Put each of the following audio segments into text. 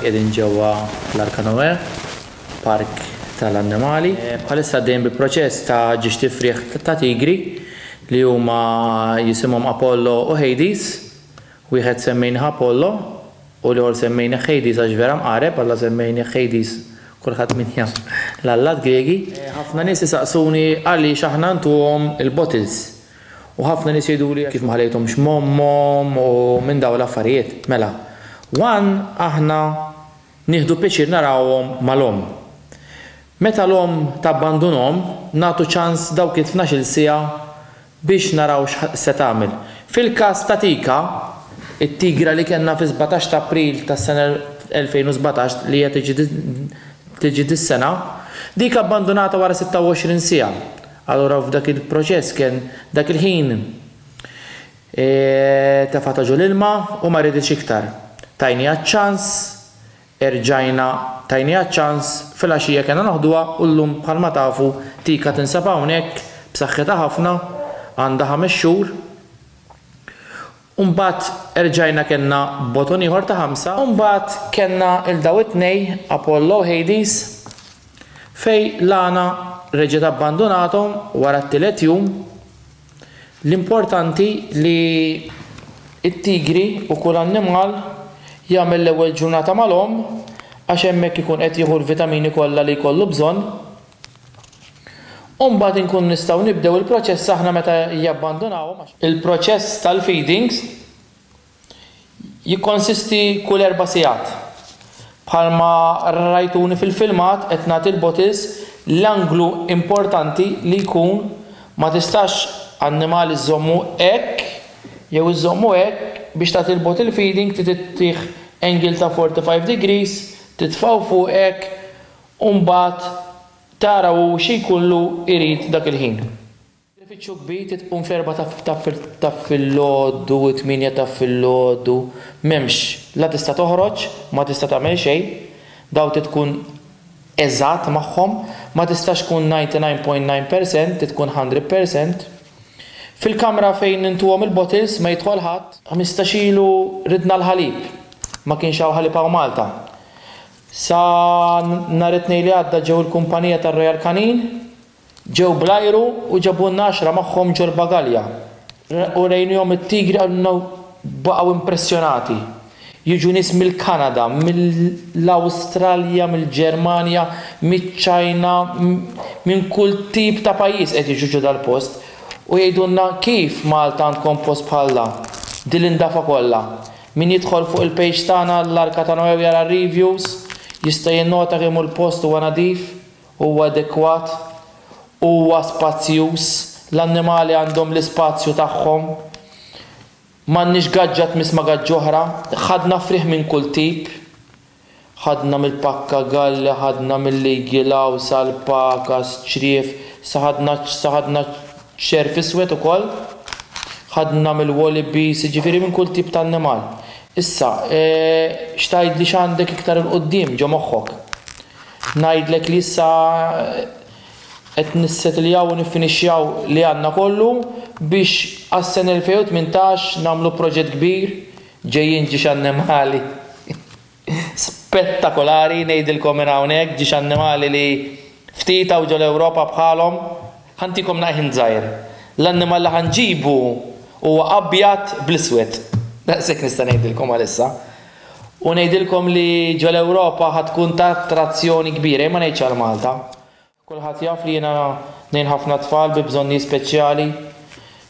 Qiegħdin ġewwa l-Arka Noè, park tal-annimali. Bħalissa għaddejjin bi proċess ta' ġiex tifrieħ ta' tigri li huma jisimhom Apollo u Hades. Wieħed semmejnieh Apollo u l-ieħor semmejnieh Hades għax vera mqareb, alla semmejnieh Hades kulħadd min jaf l-allat Griegi. Ħafna nies isaqsuni għaliex aħna ntuhom il-bottles U ħafna nies jgħiduli kif ma ħallejthomx m'ommhom u minn dawn l-affarijiet. Mela, one aħna nieħdu pjaċir narawhom mal-omm. Meta l-omm tabbandunhom, nagħtu ċans dawk it-tnax-il siegħa biex naraw x'se tagħmel. Fil-każ ta' Tika, it-tigra li kellna fis-sbatax ta' April tas-sena 2017 li hija tiġi dis-sena, dik abbandunata wara 26 siegħa. Allura f'dak il-proċess kien dak il-ħin tefgħa ta' ġol ilma u ma riditx iktar. Tajniha ċ-ċans, erġajna tajniha ċ-ċans, filgħaxija kellna noħduha u llum bħalma tafu Tika tinsab hawnhekk b'saħħitha ħafna, għandha ħames xhur. U mbagħad erġajna kellna boton ieħor ta' ħamsa. U mbagħad kellna 'l daw it-tnej, Apollo u Hades, fejn l-għana reġgħet abbandunathom wara t-tielet jum. L-importanti li t-tigri u kull annimal jagħmel l-ewwel ġurnata mal-omm għax hemmhekk ikun qed jieħu l-vitamini kollha li jkollu bżonn. u mbagħad inkunu nistgħu nibdew il-proċess aħna meta jabbandunawhom għax il-proċess tal-feedings jikkonsisti kull erba' sigħat. Bħalma rajtuni fil-filmat qed nagħti l-bottles l-anglu importanti li jkun ma tistax annimal iżżommu hekk jew iżżommu hekk biex tagħti l-bottle feeding trid ittih angle ta' 45 degrees titfgħu fuq hekk u mbagħad tara hu x'jkollu jrid dak il-ħin. L-ifiċċju kbir trid tqum fl-erbgħa ta' ta' filgħodu, it-tmienja ta' filgħodu, m'hemmx, la tista' toħroġ, ma tista' tagħmel xejn, dawn trid tkun eżatt magħhom, ma tistax tkun 99 point 9 percent, trid tkun 100 percent. Fil-kamra fejn intuhom il-bottles ma jidħol ħadd. Ħmistax ilu ridna l-ħalib, ma kienx hawn ħalib hawn Malta. Sa nhar it-Tnejn li għadda ġew il-kumpanija tar-Royal Canin, ġew bl-ajru u ġabulna għaxra magħhom ġol-bagalja. Urejnihom it-tigri qalulna u baqgħu impressjonati. Jiġu nies mill-Kanada, mill-Awstralja, mill-Ġermanja, miċ-Ċajna, minn kull tip ta' pajjiż qed jiġu ġo dal-post u jgħidulna kif Malta għandkom post bħal dan, din l-indafa kollha. Min jidħol fuq il-page tagħna l-Arka ta' Noè u jara r-reviews jista' jinnota kemm hu l-post huwa nadif, huwa adekwat, huwa spazjuż, l-annimali għandhom l-ispazju tagħhom, m'għandniex gaġġa tmiss ma' gaġġ'oħra, ħadna frieħ minn kull tip. Ħadna mill-pakka galli, ħadna mill-igilgħu sal-paka, s-ċriev, sa ħadna, sa ħadna ċ-ċerv iswed ukoll, ħadna mill-wolibies, jiġifieri minn kull tip ta' annimal. Issa, x'tgħidli x'għandek iktar 'il quddiem ġo moħħok? Ngħidlek li issa qed nissetiljaw u niffinixxjaw li għandna kollu biex għas-sena 2018 nagħmlu proġett kbir Ġejjin ġiex annimali spettakolari ngħidilkom minn hawnhekk, ġiex annimali li ftit hawn ġol-Ewropa bħalhom. Ħa ntikom naqħin żgħir. L-annimal li ħa nġibu huwa abjad bl-iswed. Daqshekk nista' ngħidilkom għalissa. U ngħidilkom li ġol-Ewropa ħa tkun ta' attrazzjoni kbira, jien ma ngħidx għal Malta. Kulħadd jaf li jiena ngħin ħafna tfal bi bżonnijiet speċjali.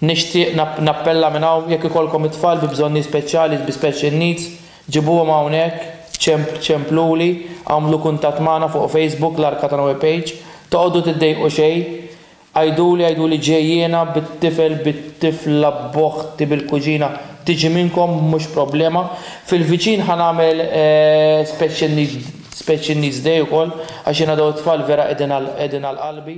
Nixtieq nappella minn hawn jekk ikollkom it-tfal bi bżonnijiet speċjali, bi special needs, ġibuhom hawnhekk, ċempluli, agħmlu kuntatt magħna fuq Facebook, l-Arka ta' Noe page. Toqogħdu tiddejqu xejn. Għiduli, għiduli ġej jiena bit-tifel, bit-tifla, b'oħti, bil-kuġina, tiġi minnkom, mhux problema. Fil-viċin ħa nagħmel special needs. Speċi n-nies day ukoll għax jingħadaw it-tfal vera qegħdin għal qalbi.